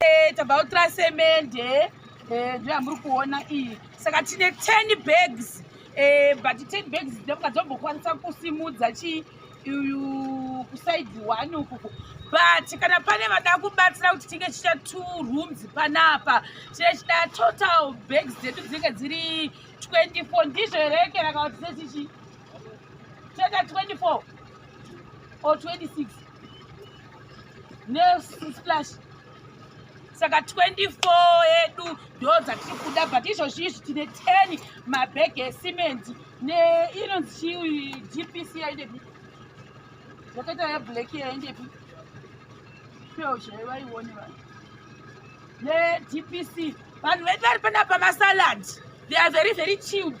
Eh, tabautra semende eh, ndoya muri kuona iyi saka tine ten bags eh, but ten bags ndomuka dzombokwanisa kusimudza chii uyu kusaidi one ukuku but kana pane vada kubatsira kuti tinge chiita two rooms panapa chine chida total bags dzedu dzinenge dziri 24 ndizvo here keraka kuti sechichi Cheka 24 or 26 nesplash saka 24 yedu ndo dzatiri kuda but izvozvi izvi tine 10 mabhegi esimendi neinonzi chii gpc yaindepi yakaita yeblack yaindepi peo chai vaione vanhu nedpc vanhu vedu vari panapa masalad they are very very chilled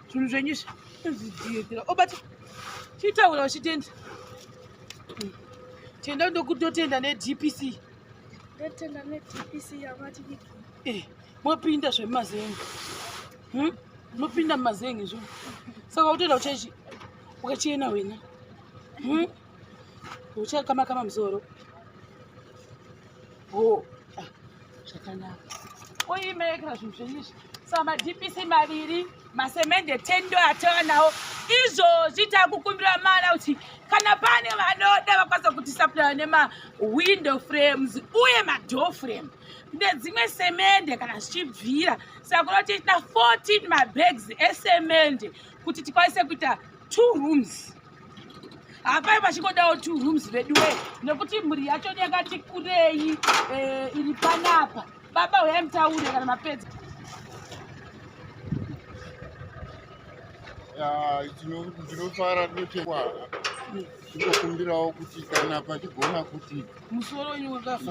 zvinhu zvenyu zviziitira obati oh, chitaura uchitenda tenda ndokutotenda nedpc ndotenda nedpc yamati eh, mopinda zvemumazenge hmm? mopinda mumazenge zvo saka utoenda kuchechi ukachena wena hmm? uchakama kama musoro oh ah, zvakanaka oimerekera zvinhu zvenyu izvi sa madpc maviri masemende tendo atava nawo izvozvi takukumbira mana kuti kana pane vanoda vakwanisa kuti saplaya nemawindow frames uye madoor frame nedzimwe semende kana zvichibvira saka kuda kuti tina 14 mabags esemende kuti tikwanise kuita two rooms hapai vachingodawo two rooms veduwe nekuti mhuri yacho yakati kurei eh, iri panapa baba huyai mutaure kana mapedza ndinofara kunochekwa ndinokumbirawo kuti kana pachigona kuti musoro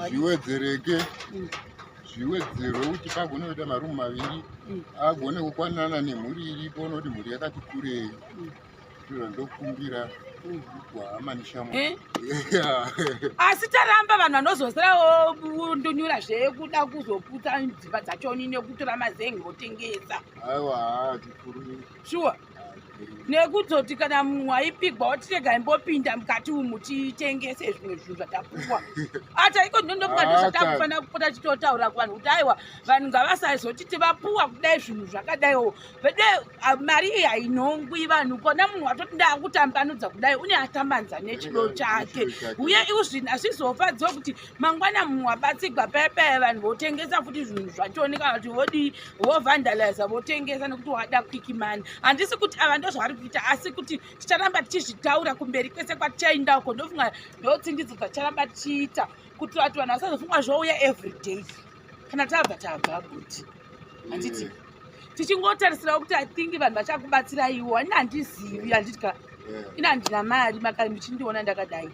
zviwedzereke mm. zviwedzerwe kuti pagone kuita marumu maviri mm. agone kukwanana nemhuri iripo noti mhuri yakati kurei mm. ndokumbira Eh? asi taramba vanhu vanozosira ndonyura zvekuda kuzoputsa dzimba dzachoni nekutora mazengi votengesa shuwa nekuzoti kana munhu aipigwa otirega imbopinda mukati umu titengese zvimwe zvinhu zvatapuwa ata iko ndondokungadozatakufanira kupota titotaura kuvanhu kuti aiwa vanhu ngavasazotiti vapuwa kudai zvinhu zvakadaiwo vede ah, mari iyi hainhongwi vanhu kona munhu watoti ndaakutambanudza kudai une atambanza nechido chake uye iu zvinhu hazvizofadzwa kuti mangwana munhu wabatsigwa payepaya vanhu votengesa futi zvinhu zvachooneka kuti vodii vovandaliza votengesa nekuti wada kwiki mani handisi kuti ava ndo zvavari kuita asi kuti ticharamba tichizvitaura kumberi kwese kwatichainda uko ndofunga ndotsindidzo dzatichara vacharamba tichiita kuti vati vanhu vasazofunga zvouya everyday kana tabva tabva kuti handiti mm. tichingotarisirawo kuti i think vanhu vachakubatsiraiwo ani handizivi handiti ka ini handina mari makare muchindiona ndakadai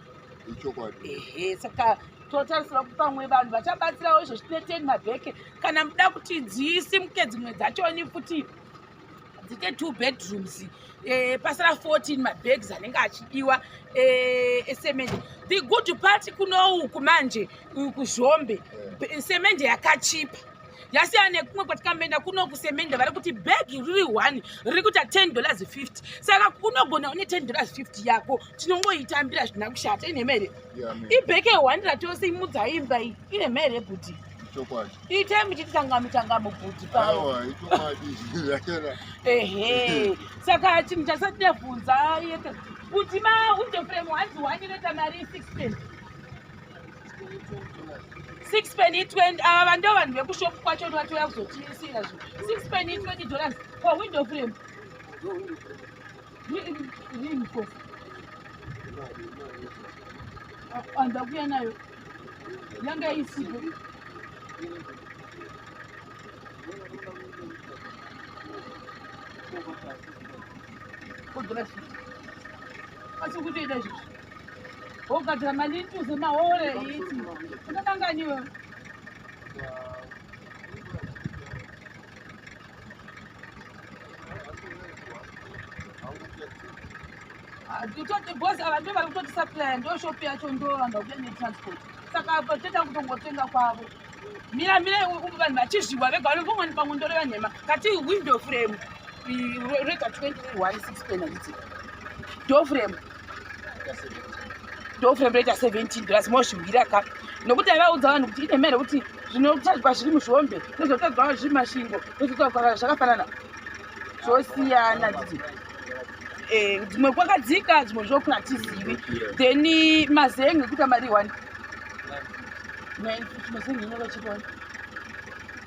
ehe saka totarisira kuti pamwe vanhu vachabatsirawo izvo zvine ten mabheke kana muda kuti dziisimuke dzimwe dzachoni futi dzite two bedrooms eh, pasara 14 mabags anenge achidiwa eh, esemende the good part kunouku manje kuzhombe eh. semende yakachipa yasiya nekumwe kwatikamboenda kuno kusemende vari kuti bhegi riri one riri kuita ten dollars fifty saka unogona une ten dollars fifty yako tinongoitambira zvina kushata ine mhere ibheke one ratose imudzaimba iyi ine mhere kuti ichokwadi itai muchititanga mitangamo bhuti paaiwa ichokwadi zvakera ehe saka chinhu chasati ndavhunza yete kuti maunde frame hanzi wani reta mari isix pen six pen itwenty ava vando vanhu vekushopu kwacho ni vatouya kuzotiisira zvo six pen itwenty dollars for window frame andakuya nayo yanga isipo kodora zvii asi kutoita zvizvi wogadzira mali ituze mahore iti unokanganiwe nditoti bhozi ava ndo vari kutoti supplya ndo shopi yacho ndovanga kuda netransport saka apa toita kutongotenga kwavo mira mira vanhu vachizviwa vega vanombomwani pamwe ndoreva nhema kati window frame rega 21 6 penality doframe ndoframe reta 17 plus mozvimbira ka nokuti avaudza vanhu kuti ine mhere kuti zvinotadzwa zviri muzvombe nezvotadzwa vanhu zviri mashingo nezvotadzwa vanhu zvakafanana zvosiyana didi eh, dzimwe kwakadzika dzimwe zvokuna tizivi then mazenge kuita mari one mazenge inovachiona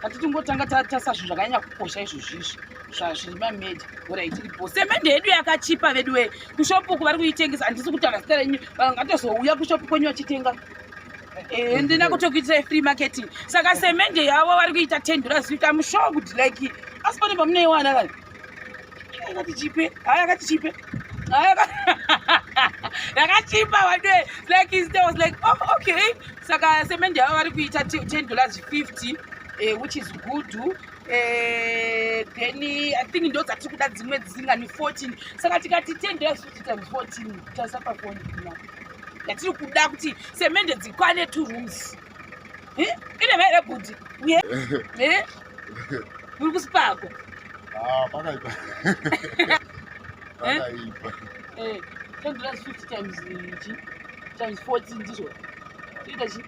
kati tingotanga tatasa zvinhu zvakanyanya kukosha izvo zvizvi zvazviri mameja orit iripo semende yedu yakachipa vedu wee kushopu uku vari kuitengesa handisi kutaura zita renyu vangatozouya kushopu kwenyu vachitenga eh, ndina kutokuitisai free marketing saka semende yavo vari kuita tendura zita mushow kuti like asi pane pamunoiwana vanhu yakati chipe haa yakati chipe yakachipa wade like is there was like oh okay saka semende yavo vari kuita 10 dollars 50 eh, which is good eh, then i think ndo dzatiri kuda dzimwe dzisingani 14 saka tikati 10 dollars 50 times 14 tasapa kuonaa yatiri kuda kuti semende dzikwane two rooms Eh? Ine maira bhudhi. Uye. Eh? Muri kusipako. Ah, pakaipa. Eh? Pakaipa. Eh, 10 plus 50 times ichi. Times 40 ndizvo. Ita chi?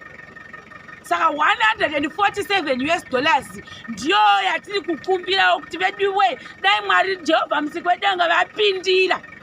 Saka 147 US dollars ndiyo yatiri kukumbirawo kuti veduwe dai Mwari Jehovha musiki wedenga vapindira.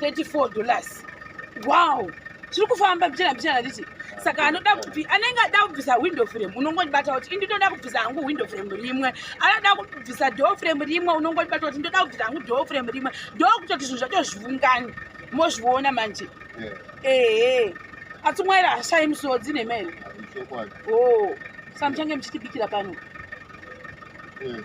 34 dollars wow tiri kufamba mbichana mbichana ndichi saka anoda kubvi anenge ada kubvisa window frame unongondibata kuti indi ndoda kubvisa hangu window frame rimwe anoda kubvisa door frame rimwe unongondibata kuti ndoda kubvisa hangu door frame rimwe ndo kutoti zvinhu zvatozvivungani mozviona manje ehe asi mwaira hashai musodzi nemene o oh, sa muchange muchitibikira pano eh,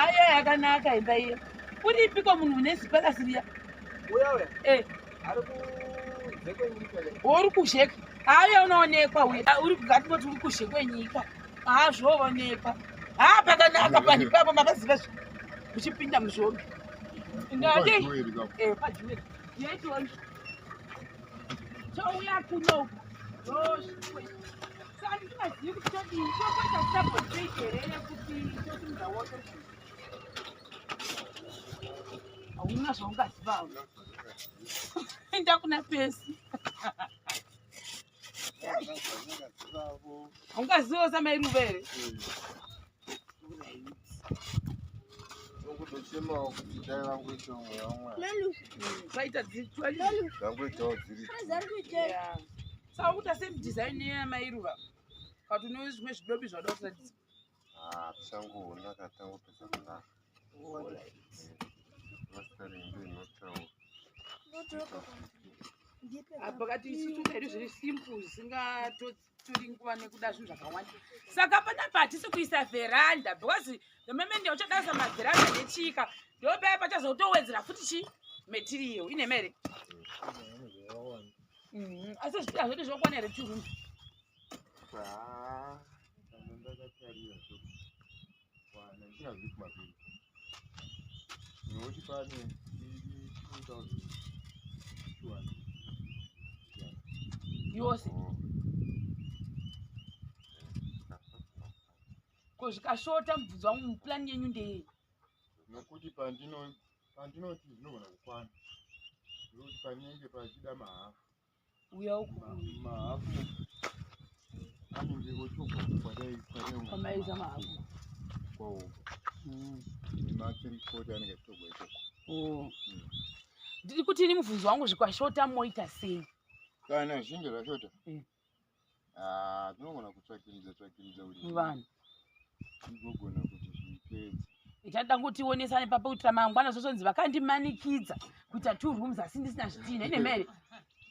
ayo yakanaka imba iyo uripiko munhu une zipakasi riya eh. uri kuzheka ayo unoonekwa uye ah, uri kugatimoti uri kuzhekwenyika azvoonekwa ha ah, pakanaka panhu ipapo makaziva zvi uchipinda muzvombe ngade eh, pajuweri yeitoona chouya kuno hauna zvaungazivawo enda kuna pesi haungazivawo samairuvere kutochemawo kuti dai vangoitawo mweya wamwari vaita dziri Saka kuita same design yamai ruva. But unowe zvimwe zvidobi zvada kuratidza. Ah, tichangona katanga kupedza kudaro. All right. Mastering ndio inotaura. Apa kati isu tukairi zviri simple zvisingatori nguva nekuda zvinhu zvakawanda. Saka pana patisi kuisa veranda because the moment yauchadasa maveranda nechika ndopaya pachazotowedzera futi chi material ine mere. Mm-hmm. asi zviti hazvoti zvokwana here two rooms yose ko zvikashota mubvunzo wangu muplan yenyu ndeyei nokuti pandino pandinoti zvinogona kukwana ndokuti panenge pachida mahafu uya uku mahafu anenge ochokoamaiza mahafu kwawo mm. nematirikoti anenge achitogwa ikoko oh. mm. ndiri kuti ini mubvunzo wangu zvikwashota moita sei kana zvinge zvashota mm. Ah, tinogona kutsvakimidza tsvakimidza kuti vanhu igogona kuti zvipedze ita danguti ionesane papa kuitira mangwana zvozonzi vakandimanikidza kuita two rooms asi ndisina zvitina ine mhere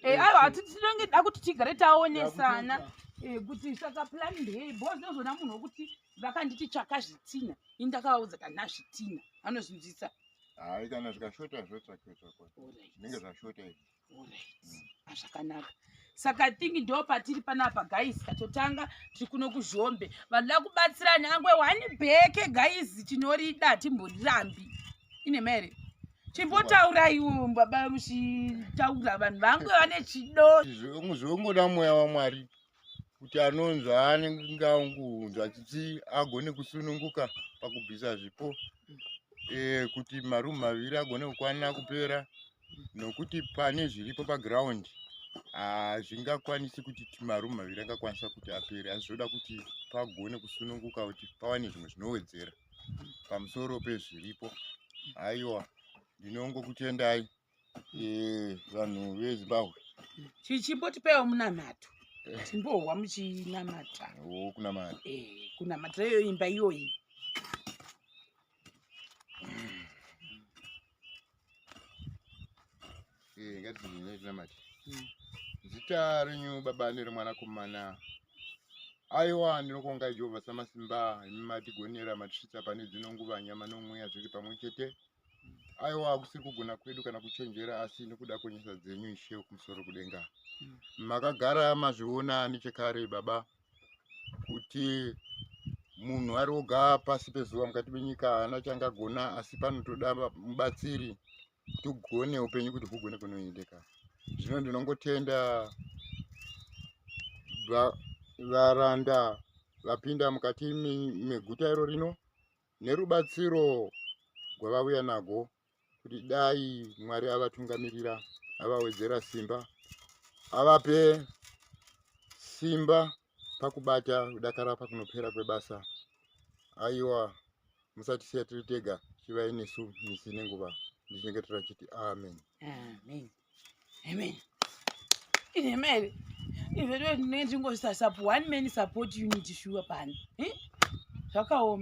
Eh, aiwa hati tinenge da kuti tigare taonesana eh, kuti saka plan ndei bo ndozona munhu wokuti vakanditi tsvaka zvitina ini ndakavaudza kana zvitina anozvinzwisa hayi kana zvikashota zvotsvakiwa tsvakwa zvinenge zvashota izvi zvakanaka saka i think ndo patiri panapa guys tatotanga tiri kuno kuzhombe vanhu da kubatsira nyangwe wani bheke guys tinorida timborirambi ine mere chimbotauraiwo baba muchitaura vanhu vangu vane chido zviungoda mweya wamwari kuti anonzwa anenge angunzwa chichi agone kusununguka pakubvisa zvipo e, kuti marumu maviri agone kukwanira kupera nokuti pane zviripo paground hazvingakwanisi ah, kuti marumu maviri angakwanisa kuti apere asi zvoda kuti pagone kusununguka kuti pawane zvimwe zvinowedzera pamusoro pezviripo aiwa ndinongokutendai eh, vanhu vezimbabwe chichimbotipeiwo munamato eh. timbohwa muchinamata oh, kunamata eh, kunamata iyo imba iyoyi ngatizinyetinamati hmm. zita renyu baba neremwanakomana aiwa ndinokuonga jehovha samasimba imi matigonera matisvitsa pane dzino nguva nyama nomweya zviri pamwe chete aiwa kusiri kugona kwedu kana kuchenjera asi nekuda kwenyasa dzenyu ishe kumusoro kudenga mm. makagara mazviona nechekare baba kuti munhu ari oga pasi pezuva mukati menyika haana changagona asi panotoda mubatsiri kuti ugone upenyu kuti hugone kunoendeka zvino ndinongotenda varanda vapinda mukati meguta iro rino nerubatsiro gwavauya nago kuti dai mwari avatungamirira avawedzera simba avape simba pakubata kudakara pakunopera kwebasa aiwa musatisiya tiri tega chivai nesu misi nenguva ndichinenge tirachiti amen amen amen ine mene izvezvo tinenge tingosasap one man support unit shuwa pani zvakaoma